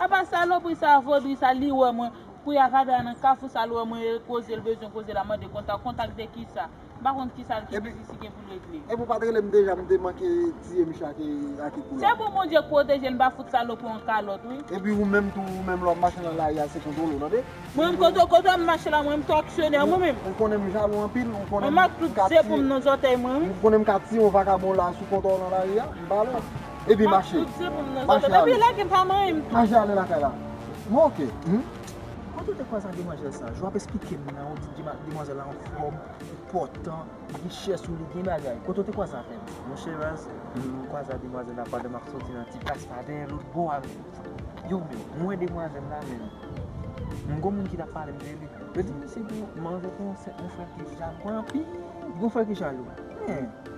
Apa salopri sa vodri sa li wè mwen pou ya va dra nan kafou sa l wè mwen e koze l bezwen koze la mande kontak kontak de kisa m pa konn kisa l ki biznis li gen pou l regle. Epi ou pat rele m deja m te manke tiye misye ak e kou la. Se pou Bondye pwoteje l m pa fout salopri on kalòt wi. Epi ou menm tou ou menm lè wap mache nan lari a se kontwole ou tande. Mwen menm kote kote m mache la mwen menm tou aksyonè mwen menm. Ou konnen m jalou anpil ou konnen m ka tiye. Mwen mak tout zepom nan zòtèy mwen wi. Ou konnen m ka tiye on vakabon la sou kontwòw nan lari a m pa alèz. Epi mache Mache ale Mache ale lakay la Bon ok Mwen tou te kwè sa demwazèl sa Jou ap esplike m nan ou di demwazèl la anfòm Enpòtan Li chè sou li gen bagay Kote ou te kwè sa frè m Mon chè raz Mwen kwè sa demwazèl la pandan m ap soti nan ti plas la dèyè loutbo a Yo menm Mwen wè demwazèl la men M gon moun ki t ap pale m de li Yo di m se pou manje pou yon frè ki jalou anpil Yon frè ki jalou Mwen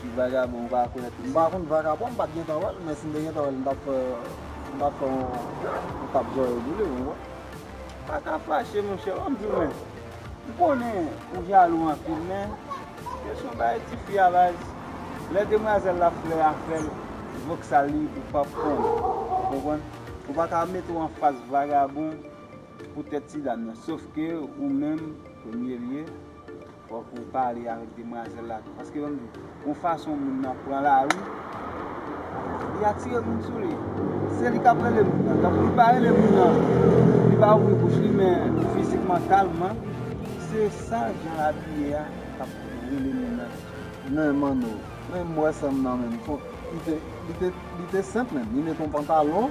Ti vagabon ou pa kwè tou. M pa konn vagabon, m pat gentan wè l, men si m te gentan wè l m tap fè m tap fè yon tap zòrèy boule ou konprann. Paka fache monchè wap di men m konnen ou jalou anpil men se son bagay tifi a baz lè demwazèl la flè a fè l voksal li ou pap konn ou konprann ou paka met ou anfas vagabon Pou tèt ti dam nan. Sof ke ou menm premye lye fòk ou pale avèk demwazèl la tou. Paske banm di w, gon fason moun nan pran lari, li atire moun sou li. Se li kap rele moun nan. Tankou li pa rele moun nan, li pa ouvri bouch li men fizikman, kalman, se sa jan l abiye a kap rele moun nan tou. Men Manno, men m wè sa m nan menm. Li te senp menm. Li met yon pantalon.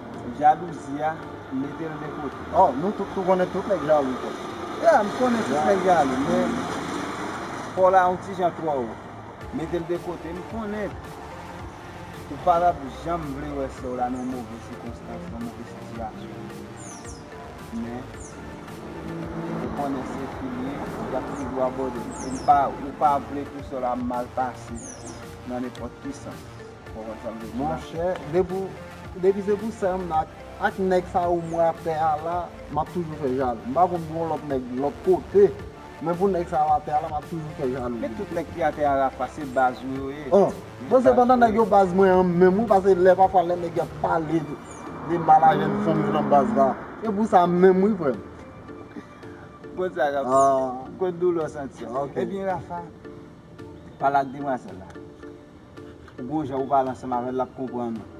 Jalouzi a metel de kote. Oh nou tout tou konnen tout nèg jalou tou. Yeah m konnen tout nèg jalou men paw la yon ti jan twò wo. Metel de kote m konnen ou pa tap janm vle wè sèw la nan yon move sikonstans nan yon move sitiyasyon men ou konnen se fim ye yap toujou abòdel e m pa ou pa vle pou sèw la mal pase nan nenpòt ki sans. Monchè depi se pou sè m nan ak nèg sa yo mwen ap fè ala m ap toujou fè jalou m pa konn pou yon lòt nèg lòt kote men pou nèg sa yo atè ala m ap toujou fè jalou de li. Men tout nèg ki atè a Rapha se baz ou yo ye. Oh bon se pandan nèg yo baz mwen an menm wi pase lè pafwa lè nèg yo ap pale de mal a jèn fanm yo nan baz la se pou sa menm wi frè m. Bon sa Rapha m konn doulè w santi. Ebyen Rapha pale ak demwazèl la Ou gon jan ou pale ansanm avèl lap konprann ou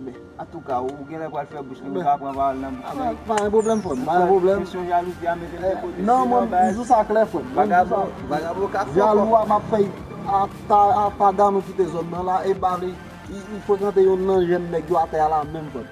men antouka ou genlè pral fè bouch li ou ka pran pawòl nan bouch nèg pa gen pwoblèm frèm pa gen pwoblèm kesyon jalouzi a metel de kote non mwen m di sa klè frèm vagabon vagabon ka fò jalou a map fè ata ata Dano kite zòn nan la epa li li frekante youn nan jèn nèg yo atè a la menm frèm.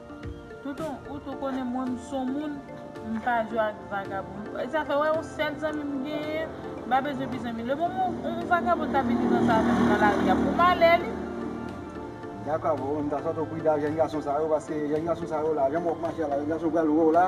Tonton ou tou konnen mwen m son moun m pa jwe ak vagabon sa fè wè yon sèl zanmi m genyen m pa bezwen pi zanmi le moman yon vagabon ta vini danse avè m nan lari a pou malè li. Dakò avèw men m ta sot ou pri da jèn gason sa yo paske jèn gason sa yo la jan mwen wè yo ap mache a la jèn gason pral wè w la